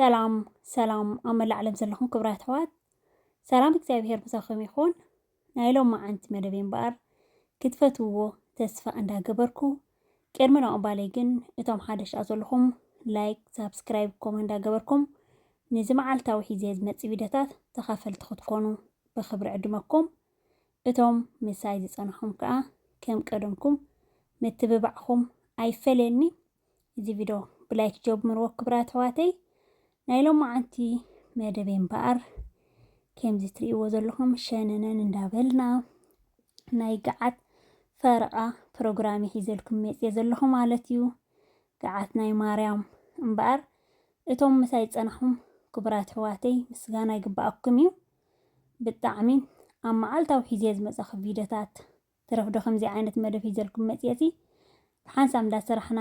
ሰላም ሰላም ኣብ መላእ ዓለም ዘለኹም ክብራት ኣሕዋት ሰላም እግዚኣብሄር ምሳኹም ይኹን። ናይ ሎማዓንቲ መደብ እምበኣር ክትፈትውዎ ተስፋ እንዳገበርኩ ቅድሚ ናቕባለይ ግን እቶም ሓደሽ ኣ ዘለኹም ላይክ፣ ሳብስክራይብ፣ ኮመ እንዳገበርኩም ንዚ መዓልታዊ ሒዘ ዝመጽእ ቪድዮታት ተኻፈልቲ ክትኮኑ ብኽብሪ ዕድመኩም። እቶም ምሳይ ዝጸናኹም ከኣ ከም ቀደምኩም ምትብባዕኹም ኣይፈለየኒ። እዚ ቪድዮ ብላይክ ጀምርዎ ክብራ ተዋተይ ናይ ሎማዓንቲ መደበይ እምበኣር ከምዚ ትርእይዎ ዘለኹም ሸነነን እንዳበልና ናይ ገዓት ፈረቓ ፕሮግራም ይሒዘልኩም መፅየ ዘለኹ ማለት እዩ ገዓት ናይ ማርያም እምበኣር እቶም ምሳይ ፀናኹም ክቡራት ሕዋተይ ምስጋና ይግባኣኩም እዩ ብጣዕሚ ኣብ መዓልታዊ ሒዜ ዝመፀኹ ቪድዮታት ትረፍ ዶ ከምዚ ዓይነት መደብ ሒዘልኩም መጽየ ሲ ብሓንሳብ እንዳ ሰራሕና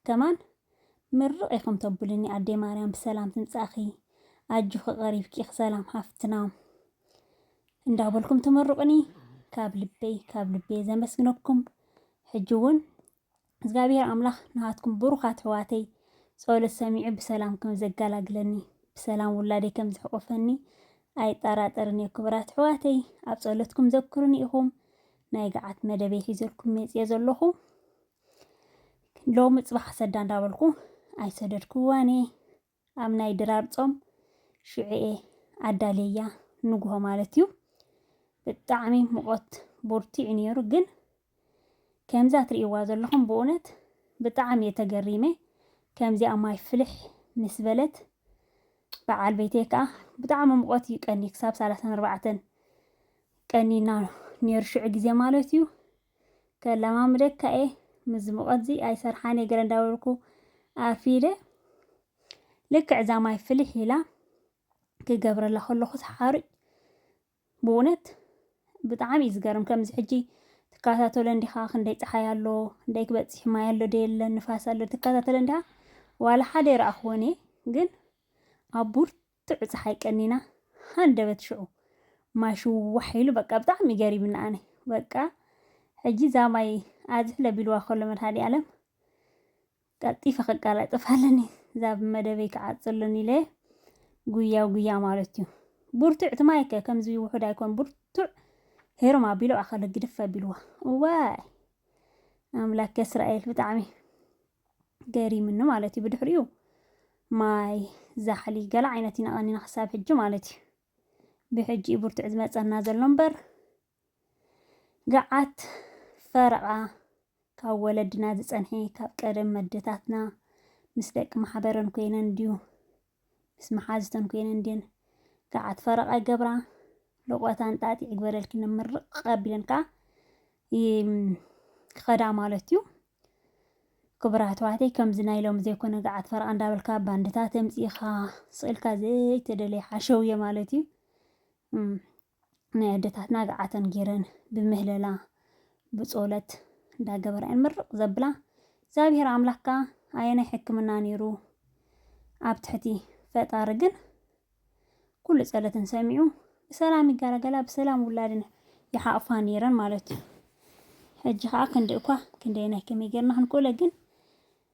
ከማን ምርቅ ኢኩም ተቡሉኒ ኣደይ ማርያም ብሰላም ትምጻኪ ኣጆኪ ቀሪብኪ ኢኪ ሰላም ሓፍትና እንዳ በልኩም ትምሩቅኒ ካብ ልበይ ካብ ልበየ ዘመስግነኩም ሕጂ ውን እዝጋብሄር ኣምላኽ ንኻትኩም ብሩኻት ኣሕዋተይ ጸሎት ሰሚዑ ብሰላም ከም ዘጋላግለኒ ብሰላም ውላደይ ከም ዝሕቆፈኒ ኣይጣራጠርን እየ ክብራት ኣሕዋተይ ኣብ ጸሎትኩም ዘክሩኒ ኢኹም ናይ ገዓት መደበይ ሒዘልኩም መጽየ ዘለኹ ሎሚ ጽባሕ ሰዳ እንዳበልኩ ኣይሰደድክዋን እየ ኣብ ናይ ድራር ጾም ሽዑ'የ ኣዳልየያ ንግሆ ማለት እዩ። ብጣዕሚ ሙቐት ቦርቲዑ ነይሩ ግን ከምዛ ትርእይዋ ዘለኹም ብእውነት ብጣዕሚ እየ ተገሪመ ከምዚኣ ማይ ፍልሕ ምስ በለት በዓል ቤተይ ከዓ ብጣዕሚ ሙቐት እዩ ቀኒ ክሳብ ሰላሳን ኣርባዕተን ቀኒና ነይሩ ሽዑ ግዜ ማለት እዩ። ከለማምደካ እየ ምስዚ ሙቐትዚ ኣይሰርሓንየ ገለ እንዳበልኩ ኣፍ ኢለ ልክዕ እዛ ማይ ፍልሕ ኢላ ክገብረላ ከለኹስ ሓሩጭ ብእውነት ብጣዕሚ እዩ ዝገርም ከምዚ ሕጂ ትከታተሎ እንዲኻ ክንደይ ፀሓይ ኣሎ ክንደይ ክበፅሕ ማይ ኣሎ ደየለ ንፋስ ኣሎ ትከታተሎ እንዲኻ ዋላ ሓደ ይረኣኽዎን እየ ግን ኣብ ቡርቱዕ ጥዑ ጸሓይ ቀኒና ሃንደበት ሽዑ ማይ ሽዋሕ ኢሉ በቃ ብጣዕሚ ገሪምኒ ኣነ በቃ ሕጂ እዛ ማይ ኣዝሕለ ቢልዋ ከሎ መድሃኒኣለም ቀልጢፈ ክቃላጠፍ ኣለኒ እዛ ብመደበይ ክዓጽልን ኢለ ጉያ ጉያ ማለት እዩ ቡርቱዕ ትማይከ ከምዚ ውሑድ ኣይኮን ቡርቱዕ ሄሮም ኣቢሎ ኣኸለ ግድፍ ኣቢልዋ እዋይ ኣምላክ እስራኤል ብጣዕሚ ገሪምኒ ማለት እዩ ብድሕሪኡ ማይ ዛሕሊ ገለ ዓይነት ኢና ቀኒና ክሳብ ሕጂ ማለት እዩ ብሕጂ እዩ ብርቱዕ ዝመፀና ዘሎ እምበር ገዓት ፈረቓ ካብ ወለድና ዝፀንሐ ካብ ቀደም መደታትና ምስ ደቂ ማሕበረን ኮይነን ድዩ ምስ መሓዝተን ኮይነን እንድየን ገዓት ፈረቓ ይገብራ። ልቆታ እንጣጢዕ ይግበረልኪ ንምርቕ ኣቢለን ከዓ ክኸዳ ማለት እዩ። ክቡር ኣሕዋተይ ከምዚ ናይ ሎሚ ዘይኮነ ገዓት ፈረቓ እንዳበልካ ባንድታት ኣምፂእኻ ስእልካ ዘይተደለየ ሓሸውየ ማለት እዩ። ናይ ኣደታትና ገዓተን ጌረን ብምህለላ ብጾለት እንዳገበራ እየን ምርቅ ዘብላ እግዚኣብሔር ኣምላክ ከኣ ኣየናይ ሕክምና ኔሩ ኣብ ትሕቲ ፈጣሪ ግን ኩሉ ጸለተን ሰሚዑ ብሰላም ይጋላገላ ብሰላም ውላድን ይሓቅፋ ኔረን ማለት እዩ ሕጂ ከኣ ክንዲ እኳ ክንደየናይ ከመይ ጌርና ክንክእሎ ግን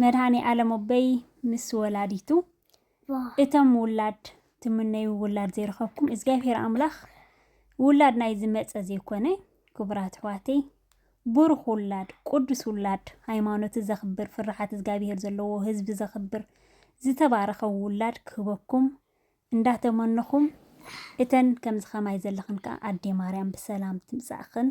መድሃኔ ኣለም ኣቦይ ምስ ወላዲቱ እቶም ውላድ ትምነዩ ውላድ ዘይረኸብኩም እግዚኣብሔር ኣምላኽ ውላድ ናይ ዝመፀ ዘይኮነ ክቡራት ኣሕዋተይ ብሩኽ ውላድ ቅዱስ ውላድ ሃይማኖት ዘኽብር ፍርሓት እግዚኣብሔር ዘለዎ ህዝቢ ዘኽብር ዝተባረኸ ውላድ ክህበኩም እንዳተመነኹም እተን ከምዚ ከማይ ዘለኽን ከዓ ኣዴ ማርያም ብሰላም ትምፃእኽን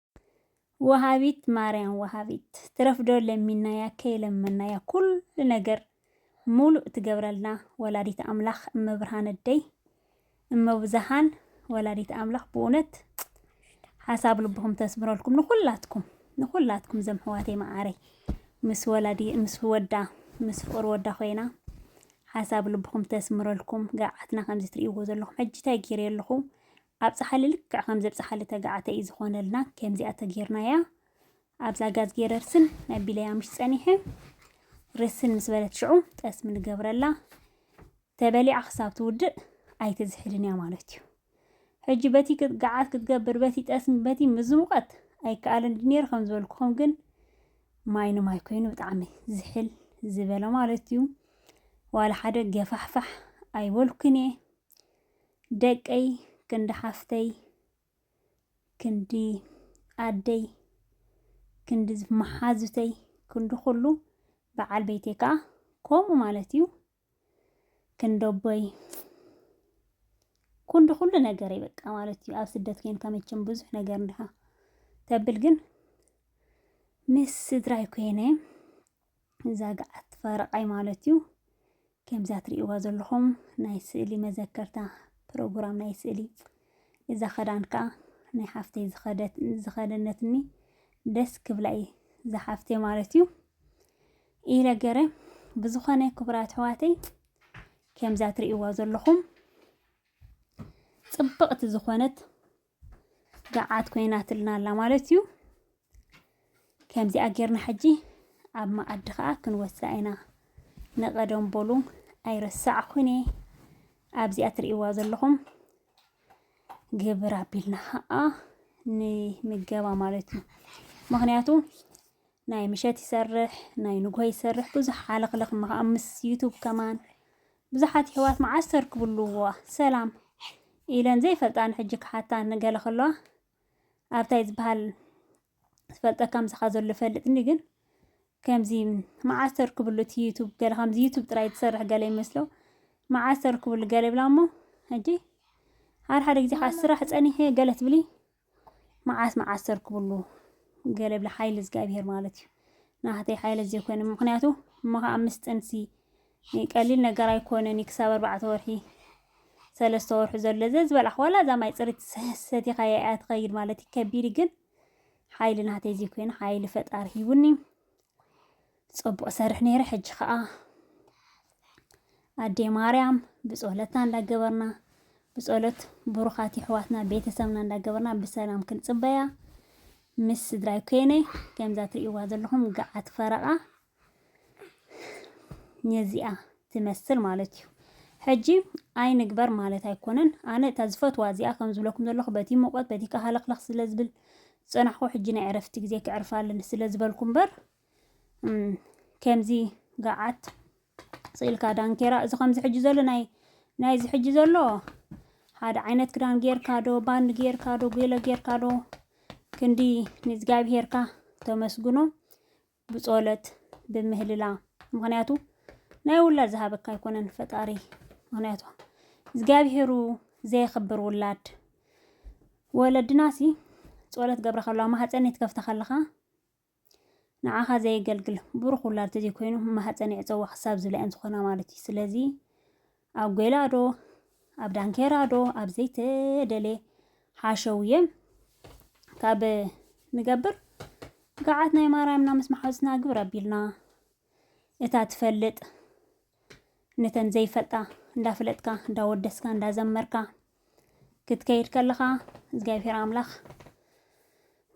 ወሃቢት ማርያም ወሃቢት ትረፍዶ ለሚናያ ከይለመናያ ኩሉ ነገር ሙሉእ ትገብረልና ወላዲት ኣምላኽ እመብርሃን እደይ እመብዙሃን ወላዲት ኣምላኽ ብእውነት ሓሳብ ልብኹም ተስምረልኩም ንኹላትኩም ንኹላትኩም ዘም ሕዋተይ መዓረይ ምስ ወላዲ ምስ ወዳ ምስ ፍቅር ወዳ ኮይና ሓሳብ ልብኹም ተስምረልኩም ገርዓትና ከምዚ ትርእይዎ ዘለኹም ሕጂ እንታይ ገይረ ኣለኹ ኣብጽሓሊ ልክዕ ከም ዘብጽሓሊ ተጋዓተይ እዩ ዝኾነልና ከምዚኣ ተጌርናያ ኣብዛ ጋዝጌ ረርስን ኣቢለያ ምሽ ጸኒሐ ርስን ምስ በለት ሽዑ ጠስሚ ንገብረላ ተበሊዓ ክሳብ ትውድእ ኣይትዝሕልን እያ ማለት እዩ ሕጂ በቲ ክትገዓት ክትገብር በቲ ጠስሚ በቲ ምዝሙቀት ኣይከኣልን ድኔር ከም ዝበልኩኹም ግን ማይ ንማይ ኮይኑ ብጣዕሚ ዝሕል ዝበለ ማለት እዩ ዋላ ሓደ ገፋሕፋሕ ኣይበልኩን እየ ደቀይ ክንዲ ሓፍተይ ክንዲ ኣደይ ክንዲ መሓዙተይ ክንዲ ኩሉ በዓል ቤተይ ከዓ ከምኡ ማለት እዩ ክንደቦይ ኩንዲ ኩሉ ነገር በቃ ማለት እዩ ኣብ ስደት ኮይንካ መቸም ብዙሕ ነገር እንድኻ ተብል ግን ምስ ስድራይ ኮይነ እዛ ገዓት ፈረቓይ ማለት እዩ። ከምዛ ትርእይዋ ዘለኹም ናይ ስእሊ መዘከርታ ፕሮግራም ናይ ስእሊ እዛ ኸዳን ከዓ ናይ ሓፍተይ ዝኸደነትኒ ደስ ክብላ እዩ ዝሓፍተይ ማለት እዩ ኢለ ገረ ብዝኾነ ክቡራት ኣሕዋተይ ከምዛ ትርእይዋ ዘለኹም ጽብቕቲ ዝኾነት ገዓት ኮይናትልና ኣላ ማለት እዩ ከምዚኣ ጌርና ሕጂ ኣብ መኣዲ ከዓ ክንወስዳ ኢና ንቐደም በሉ ኣይረሳዕኩን እየ ኣብዚኣ ትርእይዋ ዘለኹም ግብር ኣቢልና ከዓ ንምገባ ማለት እዩ ምክንያቱ ናይ ምሸት ይሰርሕ ናይ ንግሆ ይሰርሕ ብዙሕ ሓለኽለኽ ምስ ዩቱብ ከማን ብዙሓት የሕዋት መዓስ ተርክብሉዋ ሰላም ኢለን ዘይፈልጣ ንሕጂ ክሓታ ንገለ ከለዋ ኣብ ታይ ዝብሃል ዝፈልጠካ ምሳኻ ዘሎ ይፈልጥኒ ግን ከምዚ መዓስ ተርክብሉ እቲ ዩቱብ ገለ ከምዚ ዩቱብ ጥራይ ትሰርሕ ገለ ይመስሎ መዓስ ተርክብሉ ገለ ይብላ እሞ ሕጂ ሓደ ሓደ ግዜ ከዓ ስራሕ ፀኒሐ ገለ ትብሊ መዓስ መዓስ ተርክብሉ ገለ ብለ ሓይሊ እግዚኣብሄር ማለት እዩ ናህተይ ሓይለ ዘይኮይነ ምክንያቱ እሞ ከዓ ምስ ጥንሲ ቀሊል ነገር ኣይኮነን ክሳብ ኣርባዕተ ወርሒ ሰለስተ ወርሒ ዘሎ ዘ ዝበላሕ ዋላ እዛ ማይ ፅሪት ሰቲኻ እያ ትኸይድ ማለት ከቢድ ግን ሓይሊ ናህተይ ዘይኮይነ ሓይሊ ፈጣሪ ሂቡኒ ጸቡቅ ሰርሕ ነይረ ሕጂ ከኣ ኣዴ ማርያም ብጾለትና እንዳገበርና ብጸሎት ብሩኻት ይሕዋትና ቤተሰብና እንዳገበርና ብሰላም ክንጽበያ ምስ ስድራይ ኮይነ ከምዛ ትርእይዋ ዘለኹም ገዓት ፈረቓ ነዚኣ ትመስል ማለት እዩ ሕጂ ኣይንግበር ማለት ኣይኮነን ኣነ እታ ዝፈትዋ እዚኣ ከም ዝብለኩም ዘለኹ በቲ ሙቐት በቲ ካሃለኽለኽ ስለ ዝብል ዝጸናሕኩ ሕጂ ናይ ዕረፍቲ ግዜ ክዕርፋለን ስለ ዝበልኩ እምበር ከምዚ ገዓት ስኢልካ ዳንኬራ እዚ ከምዚ ሕጂ ዘሎ ናይ ናይዚ ሕጂ ዘሎ ሓደ ዓይነት ክዳን ጌርካ ዶ ባንድ ጌርካ ዶ ገለ ጌርካ ዶ ክንዲ ንእግዚኣብሄርካ ተመስግኖ ብጾለት ብምህልላ ምክንያቱ ናይ ውላድ ዝሃበካ ኣይኮነን ፈጣሪ ምክንያቱ እግዚኣብሄሩ ዘየኽብር ውላድ ወለድናሲ ጾለት ገብረ ከለዋ ማህፀን ትከፍተ ከለኻ ንዓኻ ዘየገልግል ብሩኽ ውላድ ተዘይኮይኑ ማህፀን የዕፀዋ ክሳብ ዝብላ እየን ዝኾና ማለት እዩ። ስለዚ ኣብ ጎይላዶ ኣብ ዳንኬራዶ ኣብ ዘይተደልየ ሓሸውየ ካብ ንገብር ገዓት ናይ ማርያምና ምስ መሓዙትና ግብረ ኣቢልና እታ ትፈልጥ ነተን ዘይፈልጣ እንዳፈለጥካ እንዳወደስካ እንዳዘመርካ ክትከይድ ከለኻ እግዚኣብሔር ኣምላኽ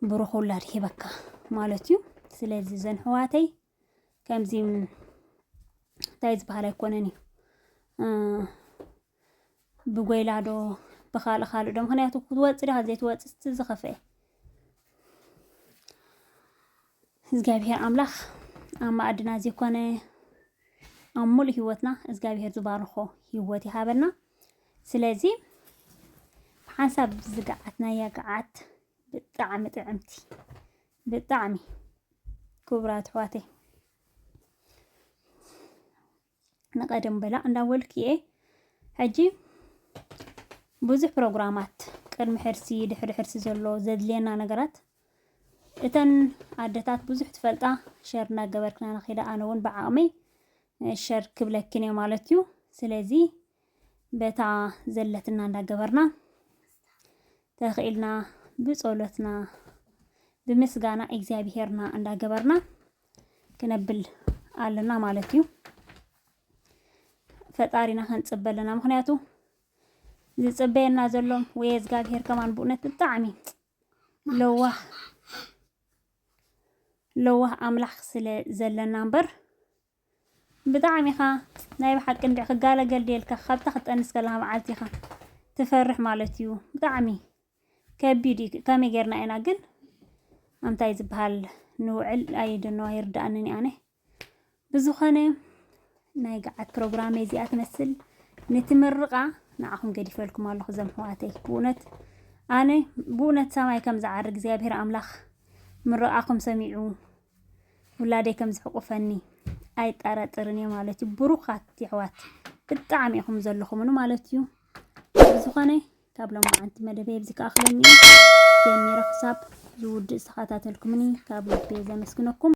ብሩኽ ውላድ ሂበካ ማለት እዩ ስለዚ ዘን ሕዋተይ ከምዚ እንታይ ዝበሃል ኣይኮነን እዩ ብጎይላ ዶ ብካልእ ካልእ ዶ ምክንያቱ ክትወፅ ድካ ዘይትወፅእ እቲ ዝከፍኤ እግዚኣብሄር ኣምላኽ ኣብ መኣድና ዘይኮነ ኣብ ሙሉእ ሂወትና እግዚኣብሄር ዝባርኾ ሂወት ይሃበና። ስለዚ ብሓንሳብ ዝገዓትናያ ገዓት ብጣዕሚ ጥዕምቲ ብጣዕሚ ክቡራት ኣሕዋተይ ንቀደም በላዕ እንዳበልኩ'የ ሕጂ ብዙሕ ፕሮግራማት ቅድሚ ሕርሲ ድሕሪ ሕርሲ ዘሎ ዘድልየና ነገራት እተን ኣደታት ብዙሕ ትፈልጣ ሸር እናገበርክና ንኺዳ ኣነ እውን ብዓቕመይ ሸር ክብለክን እየ ማለት እዩ ስለዚ በታ ዘለትና እንዳገበርና ተኽኢልና ብጸሎትና ብምስጋና እግዚኣብሄርና እንዳገበርና ክነብል ኣለና ማለት እዩ ፈጣሪና ከንፅበ ኣለና ምክንያቱ ዝፅበየና ዘሎም ወይ እግዚኣብሄር ከማን ብእውነት ብጣዕሚ ለዋህ ለዋህ ኣምላኽ ስለ ዘለና እምበር ብጣዕሚ ኢኻ ናይ ብሓቂ እንዲ ክጋለገል ድልካ ካብታ ክጠንስ ከለካ መዓልቲ ኢኻ ትፈርሕ ማለት እዩ ብጣዕሚ ከቢድ እዩ ከመይ ጌርና ኢና ግን ኣንታይ ዝበሃል ንውዕል ኣይደኖ ኣይርድኣንን ኣነ ብዝኾነ ናይ ገዓት ፕሮግራም እዚኣ ትመስል ነቲ ምርቓ ንዓኹም ገዲፈልኩም ኣለኹ ዘም ሕዋተይ ብእውነት ኣነ ብእውነት ሰማይ ከም ዝዓር እግዚኣብሔር ኣምላኽ ምርቓኹም ሰሚዑ ውላደይ ከም ዝሕቁፈኒ ኣይጠራጥርን እየ ማለት እዩ ብሩኻት የሕዋት ብጣዕሚ ኢኹም ዘለኹምን ማለት እዩ ዝኾነ ካብ ሎማዓንቲ መደበይ ኣብዚ ክኣኽለኒ ጀሚረ ክሳብ ዝውድእ ዝተኸታተልኩምኒ ካብ ልቤ ዘመስግነኩም